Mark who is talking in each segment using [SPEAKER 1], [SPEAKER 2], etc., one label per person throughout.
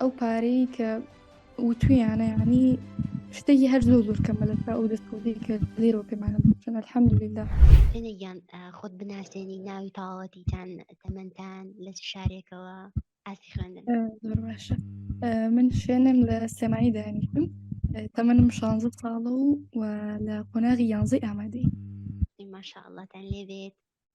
[SPEAKER 1] ئەو پارەی کە وتویانە ینی شتێکی هەر زۆر زۆر کەمە لە تا ئەو دەستکەوتی کە لێرەوە پێمانە بچن الحەمدللا سێنەگیان
[SPEAKER 2] خۆت بناسێنی ناوی تاوەتیتان تەمەندان لە شارێکەوە ئاسی خوێندن زۆر باشە
[SPEAKER 1] من شوێنم لە سێمانی دانیشتم تەمەنم شانزە ساڵە و و لە قۆناغی یانزەی ئامادەی ماشاءڵاتان
[SPEAKER 2] لێبێت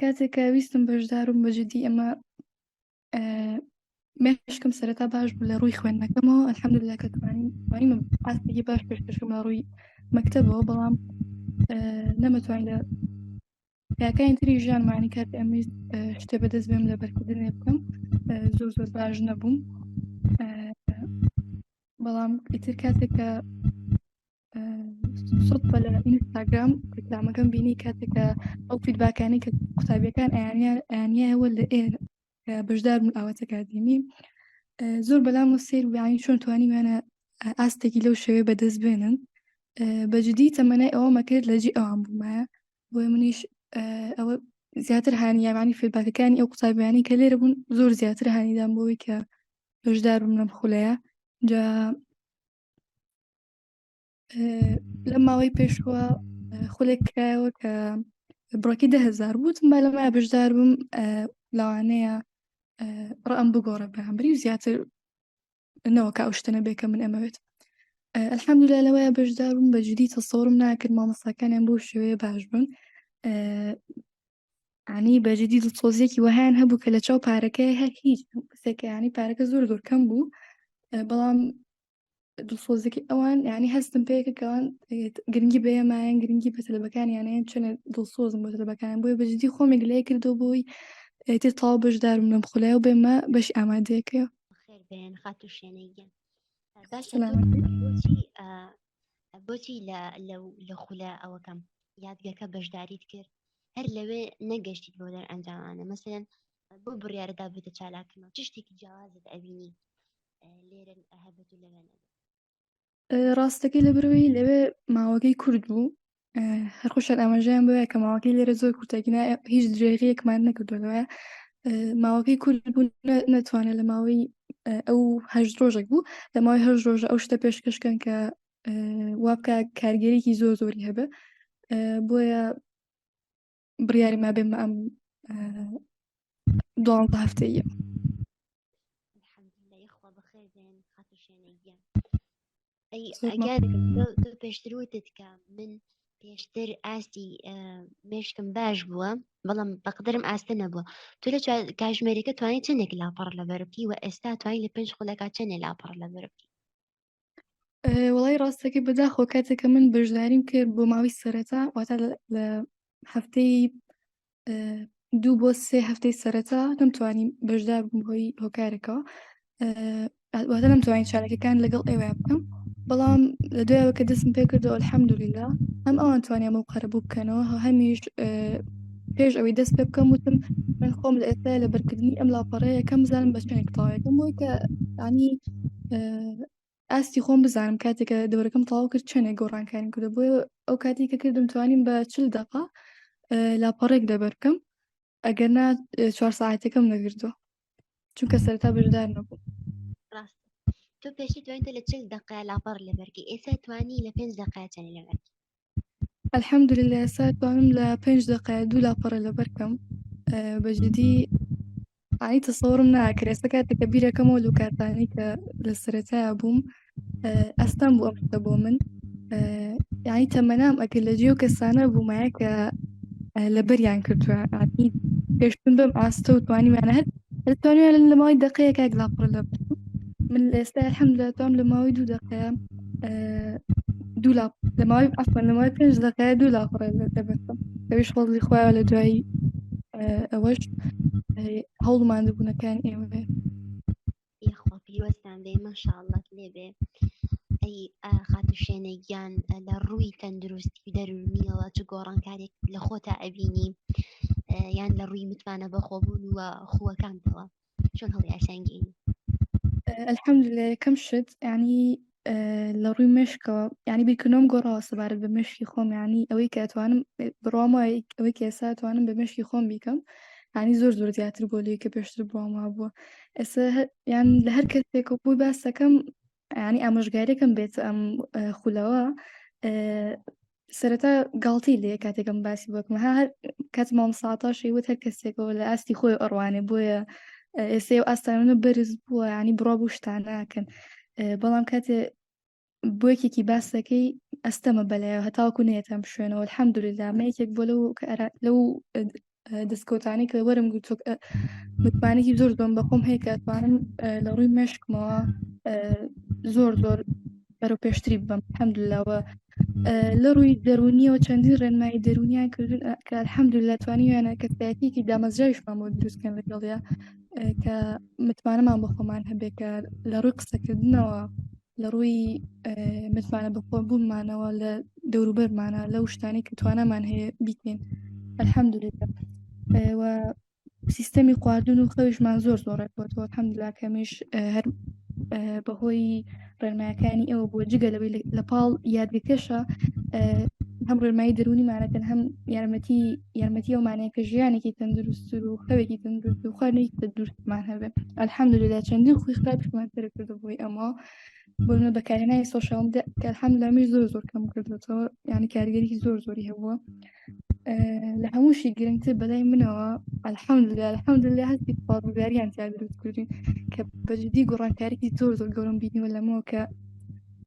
[SPEAKER 1] کاتێکە ویستم بەشدارم بە جددی ئەمە مێشکم سەرەتا باش بوو لە ڕووی خوێندنەکەمەوە ئەلحەمدللا کە توانیم ئاستێکی باش پێشکەشم لە ڕووی مەکتەبەوە بەڵام نەمەتوانین لە یاکانی تری ژیانمانی کات ئەمیز شتێ بەدەست بێم لە بەرکردنێ بکەم زۆر زۆر باش نەبووم بەڵام ئیتر کاتێک کە سوود بە لە ئینستاگرام ڕیکلامەکەم بینی کاتێکە ئەو فیدباکانی کە قوتابیەکان ئەیانیایەوە لە ئێ بەشدار بوون ئاواتە کاردێمی زۆر بەلام و سیر ویانی چۆن توانیمانە ئاستێکی لەو شەوێ بەدەست بێنن بەجددی تەمەنای ئەوە مەکرد لە جی ئەوان بوومایە بۆی منیش ئەوە زیاتر هاانیامانی فیدباکەکانی ئەو قوتابیانی کە لێرە بوون زۆر زیاتر هاانیدان بۆی کە بەشدار بووم لەم خولەیە جا لە ماوەی پێشوە خولێک کرایەوە کە بڕۆکی دههزار بووتم با لە مای بەشدار بم لەوانەیە ڕام بگۆڕە بەهمبری و زیاتر نەوە کا شتەنە بێکە من ئەمەوێت ئەلحەمدولا لەوەیە بەشدار بم بە جدی تەسەورم ناکرد مامەساکانیان بۆ شوێ باش بن عنی بەجددی دڵسۆزیەکی وەهیان هەبوو کە لە چاو پارەکەی هەر هیچ سەکەیانی پارەکە زۆر زۆر کەم بوو بەڵام دڵسۆزەکەی ئەوان یعنی هەستم پێکە کەوان گرنگی بەیەمایان گرنگی بە تەلبەکانیانەیە چونە دڵسۆزم بۆ تەلبەکان بۆی بەجددی خۆمێک لای کردو بۆی تر تاو بەشدارم لەم خولای و بێمە بەش ئامادەیەکە بێن
[SPEAKER 2] خات و شوێنەیگەن باشە بۆچی لە خولە ئەوەکەم یادگەکە بەشداریت کرد هەر لەوێ نەگەشتیت بۆ دەر ئەنجامانە مەسەن بۆ بڕیاردابێتە چالاکردنەوە چ شتێکی جیاوازت ئەبینی
[SPEAKER 1] ڕاستەکەی لە برەوەی لەوێ ماوەکەی کورد بوو هەرخۆشان ئاماژەیان بووە کە ماوەکەی لێرە زۆر کورتەگینا هیچ درێغیەکمان نەکردوەوە ماوەکەی کورد بوو نەتوانێت لە ماوەی ئەو هەش ڕۆژێک بوو لە ماوەی هەر ڕۆژە ئەو شتە پێشکەشکەن کە وابکە کارگەرێکی زۆر زۆری هەبێ بۆیە
[SPEAKER 2] بڕیاری ما بێمە ئەم دوانزە هەفتەیە پێشتر وتت کە من پێشتر ئاستی مشکم باش بووە بەڵام بەقدرم ئاستە نەبووە تو لە کاژمێریکە توانانی چندێک لاپەڕ لە بەربی و ئێستا توانین لە پێنج خولەکە چنێ لاپەڕ لە بەربی
[SPEAKER 1] وڵی ڕاستەکەی بەداخۆ کاتێکە من بەشداریم کرد بۆ ماوەی سەرەتا واتا لە هەفتەی دوو بۆ سێ هەفتەی سەرەتا نەمتوانی بەشدار بم هۆی هۆکارەکەەوە واتە نەمتوانین چارەکەکان لەگەڵ ئێوە بکەم بەڵام لە دوایەوە کە دەستم پێ کردەوە الحەمدولیلا هەم ئەوان توانیان بۆ قەرە بوو بکەنەوە هەمیش پێش ئەوی دەست پێ بکەم وتم من خۆم لە ئێستا لە بەرکردنی ئەم لاپەڕەیە کەم زانم بە شوێنێک تاوێکم بۆی کە ینی ئاستی خۆم بزانم کاتێکە دەورەکەم تاو کرد چێنێک گۆڕانکاریم کردو بۆ ئەو کاتی کە کردم توانیم بە چل دقا لاپەڕێک دەبەر بکەم ئەگەر نا چوار ساعتەکەم نەگردووە چونکە سەرتا بەشدار نەبوو ڕاست
[SPEAKER 2] تۆ پێشی توانیتە لە چل دقا لاپەڕ لەبەرگی ئێستا توانی لە پێنج دقاچەنی لەبەرگی الحمد
[SPEAKER 1] لله سا توانم لە پێنج دقای دوو لاپەڕە لەبەر کەم بەجددی ئای تەسەوەڕم ناکرێسە کاتێک کە بیرەکەمەوە لو کاتانی کە لە سەرەتایا بووم ئەستان بوو ئەفتە بۆ من یانی تەمەنام ئەکرد لە جێو کەسانە بوومایە کە لەبەریان کردووە پێشتون بەم ئاستە و توانیمانە هەر ئەتوانێ لە ماوەی دەقەیەک ئەک لاپەڕە لە من لە ئێستا الحمدلله توام لە ماوەی دوو دەقەیە دوو لاپ لە ماوەی عفوا لە ماوەی پێنج دەقەیە دوو لاپەڕە لە دەبەستم ئەویش فەزلی خۆیان لە دوایی ئەوەش هەوڵمان دەبوونەکان ئێوە
[SPEAKER 2] یخوا پیرۆزتان بێ مەشاءڵڵات لێ بێ ئەی خاتوشێنە گیان لە ڕووی تەندروستی و دەرونیەوە چ گۆڕانکارێک لە خۆتا ئەبینی یان لە ڕووی متمانە بەخۆبوون وە خووەکانتەوە چۆن هەڵی ئاسانگەین الحمد لله یەکەم شت ینی
[SPEAKER 1] لە ڕووی مشکەوە یعنی بیرکردنەوەم گۆڕاوە سەبارەت بە مشکی خۆم ینی ئەوەی کە ئەتوانم بڕامە ئەوەی کێسا توانم بە مشکی خۆم بیکەم ینی زۆر زۆر زیاتر بۆ لێ کە پێشتر بووم وا بووە ئێستا یان لە هەر کەسێک و بووی باسەکەم ینی ئامۆژگارێکم بێت ئەم خولەوە سەرەتا گاڵتی لێ کاتێکم باسی بۆکم ها هەر کات مام ساتاشی وت هەر کەسێکەوە لە ئاستی خۆی ئەڕوانێ بۆیە ئێستا و ئاستانە بەرز بووە ینی بڕا بوو شتان ناکەن بەڵام کاتێ بۆیەکێکی باسەکەی ئەستەمە بەلایەوە هەتاوکو نێتەم شوێنەوە الحەمدللا مەیەکێک بۆ لەو لەو دەستکەوتانێک لە وەرم گرت متمانێکی زۆر زۆم بەخۆم هەیە کە ئەتوانم لە ڕووی مێشکمەوە زۆر زۆر بەرەو پێشتری بم حەمدلاوە لە ڕووی دەرونیەوە چەندین ڕێنمایی دەرونیان کردن کە الحەمدللا توانیویانە کەسایەتیکی دامەزراویشمان بۆ دروستکەن لەگەڵیا کە متمانەمان بە خۆمان هەبێت کە لە ڕووی قسەکردنەوە لە ڕووی متمانە بەخۆ بوومانەوە لە دەوروبەرمانە لەو شتانی کە توانامان هەیە بیکەین ئەلحەمدورێت و سیستەمی خواردن و خەویشمان زۆر زۆر ڕێکوەوە حەمدلا کەمیش هەر بەهۆی ڕێنمایەکانی ئەوە بۆ جگە لەوەی لە پاڵ یادگەکەشە هەم ڕێنمایی دەرونیمانەکەن هەم یارمەتی یارمەتی ئەومانەیە کە ژیانێکی تەندروستتر و خەوێکی تەندروست و خەرنێک بە دوورمان هەبێت ئەلحەمدللا چەندین خوی خراپمان تر کردو بۆی ئەمە بۆمە بەکارێنای سۆشال کە هەم لەمیش زۆر زۆر کەم کردوەوە یانی کاریگەری زۆر زۆری هەبووە لە هەمووشی گرنگتر بەلای منەوە ئەلحەمدللا الحەمدللا هەستی پاڵگاریان تیا دروست کردین کە بەجددی گۆڕانکارێکی زۆر زۆر گەورم بینیوە لەمەوە کە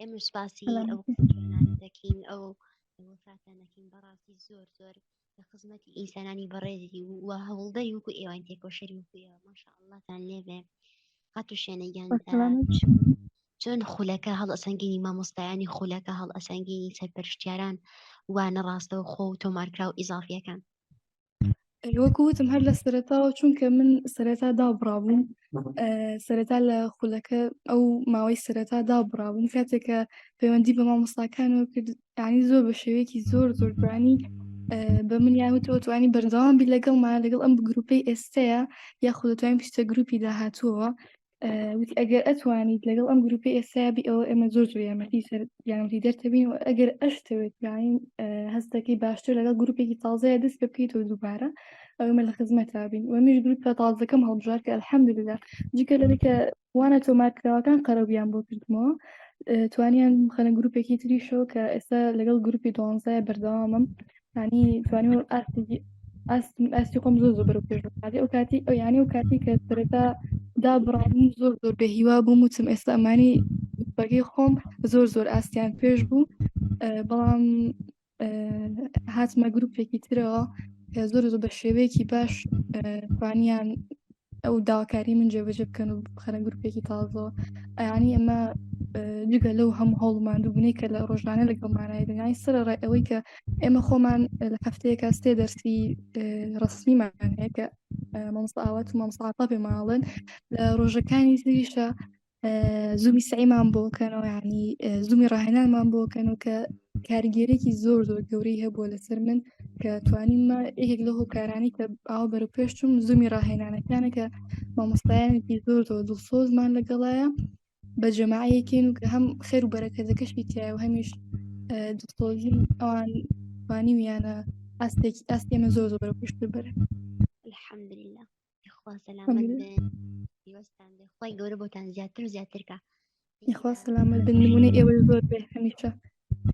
[SPEAKER 2] ئێمە سپاسی ئەو دەکەین ئەو وفاتانەکەین بەڕاستی زۆر زۆر لە خزمەتی ئینسانانی بەڕێزی و هەوڵدەی وکو ئێوان تێکۆشەری وکوێەوە ماشاء اللهتان لێبێ قات و شوێنەگیان چۆن خولەکە هەڵ ئەسەنگینی مامۆستایانی خولەکە هەڵ ئەسەنگینی سەرپەرشتیاران وانە ڕاستەوە خۆ و تۆمارکراو ئیزافیەکان
[SPEAKER 1] وەکو وتم هەر لە سەرتاوە چونکە من سەرەتا دابڕابووم سەرەتا لە خولەکە ئەو ماوەی سەرەتا دابڕابووم کاتێکە پەیوەندی بە مامۆستاکان و کردانی زۆر بە شێوەیەکی زۆر زۆرگرانی بە من یاوتەوە توانی بەردەوام بی لەگەڵمان لەگەڵ ئەم گروپەی ئێستەیە یاخودتوانین پیشتە گروپی داهاتووەوە وتی ئەگەر ئەتوانیت لەگەڵ ئەم گروپی ئێسابی ئەوە ئێمە زۆر زۆر یامەتی سەر یانتی دەرتەبین و ئەگەر ئەشتەوێت یاین هەستەکەی باشتر لەگەڵ گروپێکی تازەیە دەست پێ بکەیتەوە دووبارە ئەومە لە خزمەت تابین و میش گروپە تازەکەم هەڵبژار کە الحەمدللا جگە لە کە وانە تۆمارکراوەکان قەرەبیان بۆ کردمەوە توانیان خەنە گروپێکی تریشەوە کە ئێستا لەگەڵ گروپی دوانزای بەردەوامم ینی توانی ئاستی خۆم زۆر زۆر پێش بکاتی ئەو کاتی ئەو یانی و کاتی کە سەرەتا دا بڕابووم زۆر زۆر بە هیوا بووم وتم ئێستا ئەمانی بەگەی خۆم زۆر زۆر ئاستیان پێش بوو بەڵام هاتمە گرروپێکی ترەوە زۆر زۆر بە شێوەیەکی باش توانیان ئەو داواکاری من جێبەجێ بکەن و بخەنە گروپێکی تازەوە ئەیانی ئەمە جگە لەو هەموو هەوڵ مادووبنەی کە لە ڕۆژانە لەگەڵ مانای دنیای سەر ڕای ئەوەی کە ئێمە خۆمان لە هەفتەیەکە سێ دەرسی ڕستنیمان هەیە کە مامۆستا ئاوات و مامساعتا پێماڵن لە ڕۆژەکانی زیشە زوومی سعیمان بۆکەنەوە ینی زوومی ڕاهێنانمان بۆکەنەوە کە کارگێرێکی زۆر زۆر گەورەی هەبووە لەسەر من کە توانیمە یەکێک لە هۆکارانی کە ئاوا بەرە پێشتم زوومی ڕاهێنانەکانە کە مامۆستایانێکی زۆر زۆر دڵسۆزمان لەگەڵایە بە جەماعەیەکەین و کە هەم خێر و بەرەکەزەکەشی تایە و هەمیش دڵسۆزی ئەوان توانیویانە ئاستێکی ئاست ئێمە زۆر
[SPEAKER 2] زۆر بەرە
[SPEAKER 1] پێشتر بەرن الحمدلله
[SPEAKER 2] خوا سەلامەت
[SPEAKER 1] بن
[SPEAKER 2] دیوەستان بێ خۆی گەورە بۆتان زیاتر و زیاترکە خوا
[SPEAKER 1] سەلامەت بن نمونە ئێوە زۆر بێ هەمیشە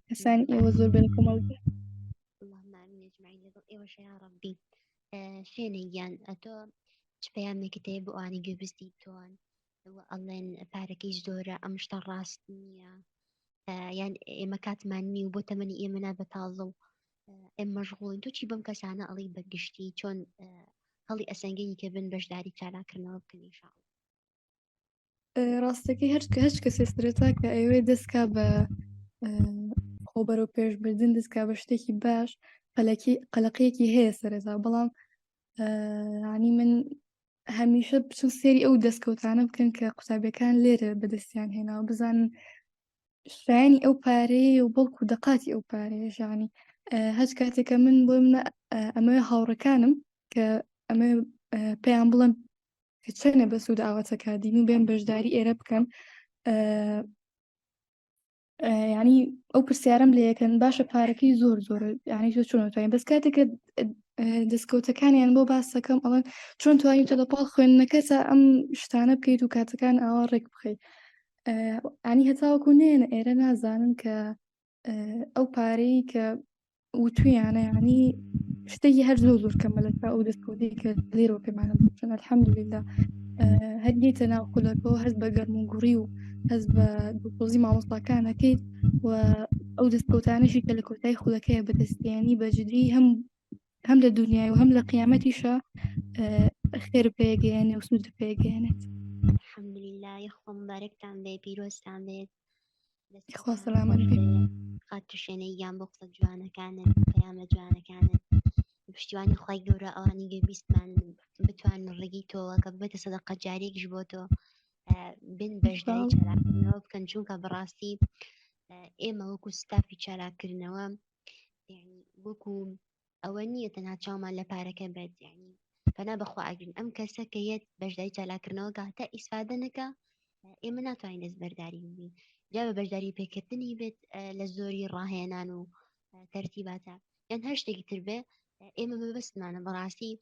[SPEAKER 1] کەسانی ئێوە زۆر بن کۆمەڵ
[SPEAKER 2] ئێوەشە یا ڕبی شوێنە گیان ئەتۆ چ پەیامێکت هەیە بۆ ئەوانی گوێبستی تۆن ئەڵێن پارەکەی زۆرە ئەم شتە ڕاست نییە یان ئێمە کاتمان نی و بۆ تەمەنی ئێمە نابە تازە و ئێم مەژغوڵین تۆ چی بەم کەسانە ئەڵی بەگشتی چۆن هەڵی ئەسەنگەی کە بن بەشداری چالاکردنەوە بکەن شاڵ
[SPEAKER 1] ڕاستەکەی هەر هەچ کەسێ سرەتا کە ئەوێ دەستکا بە خۆبەر و پێشبردن دەستکا بە شتێکی باش قەلەکی قەلەقەیەکی هەیە سەرەتا بەڵام ینی من هەمیشە بچون سێری ئەو دەستکەوتانە بکەن کە قوتابەکان لێرە بەدەستیان هێناوە بزانن شایانی ئەو پارەیە و بەڵکو دەقاتی ئەو پارەیە ژانی هەچ کاتێکە من بۆ منە ئەمە هاوڕەکانم کە ئەمە پێیان بڵم چەنە بە سوود ئاواتەکە دین و بێن بەشداری ئێرە بکەن ینی ئەو پرسیارم لە یەکەن باشە پارەکەی زۆر زۆر ینی زۆر چۆن توانین بەس کاتێکە دەستکەوتەکانیان بۆ باسەکەم ئەڵەن چۆن توانین تە لەپاڵ خوێندنەکەسە ئەم شتانە بکەیت و کاتەکان ئاوا ڕێک بخەیت ئەنی هەتاوەکو نێنە ئێرە نازانن کە ئەو پارەی کە وتویانە ینی شتێکی هەر زۆ زۆر کەمە لە تا ئەو دەستکەوتی کە لێرەوە پێمانە بچن الحەمدللا هەرگیتە ناو خولەکەەوە هەست بە گەرم و گوڕی و هەز بە دوپۆزی مامۆستاکانەکەیت و ئەو دەستکەوتانشی کە لە کۆتای خولەکەیە بەدەستیانی بەجددی هەم هەم لە دنیای و هەم لە قیامەتیشە خێر پێگەیانێ و سوود پێگەێنێت حمدللا
[SPEAKER 2] خۆم بارێکتان بێ پیرۆستان بێت خۆ
[SPEAKER 1] سەلامان خات توشێنەی
[SPEAKER 2] یان بۆ قسە جوانەکانت پەیامە جوانەکانت پشتیوانی خی گەورە ئەوانی گە بیستمان بتوان ڕێگی تۆوە کە بێتە سەدە قەجارێکش بۆ تۆ بن بەشداری چالاکردنەوە بکەن چونکە بەڕاستی ئێمە وەکو ستافی چالاکردنەوە وەکو ئەوە نییە تەنها چاومان لە پارەکە بێت یعنی پەنا بەخوا ئەگرین ئەم کەسە کە یەت بەشدای چالاکردنەوە گاتە ئیسفادە نەکە ئێمە ناتوانین دەست بەرداری بین جا بە بەشداری پێکردنی بێت لە زۆری ڕاهێنان و تەرتیباتە یان هەر شتێکی تر بێ ئێمە بەبستمانە بەڕاستی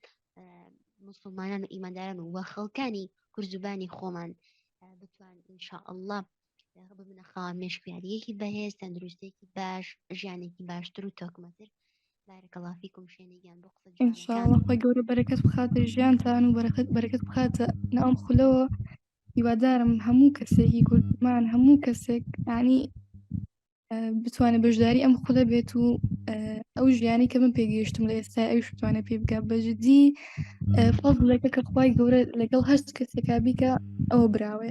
[SPEAKER 2] مسلمانان و ئیمانداران و وە خەڵکانی کورزوبانی خۆمان بتوان انشاء الله ڕب منە خاوە مێشکیاریەکی بەهێز تەندروستێکی باش ژیانێکی باشتر و تۆکمەتر بارەکەڵافیکم شوێنێکیان بۆ قسە ئینشاڵخوای گەورە
[SPEAKER 1] بەرەکەت بخاتە ژیانتان و بەرەکەت بەرەکەت بخاتە ناوم خولەوە هیوادارم هەموو کەسێکی کوردمان هەموو کەسێک ینی بتوانێت بەشداری ئەم خولە بێت و ئەو ژیانی کە من پێگەیشتم لە ئێستا ئەوش بتوانێت پێ بگە بەجددی فڵێکە کە خخوای گەورە لەگەڵ هەست کەسێکا بیکە ئەوە
[SPEAKER 2] براوێ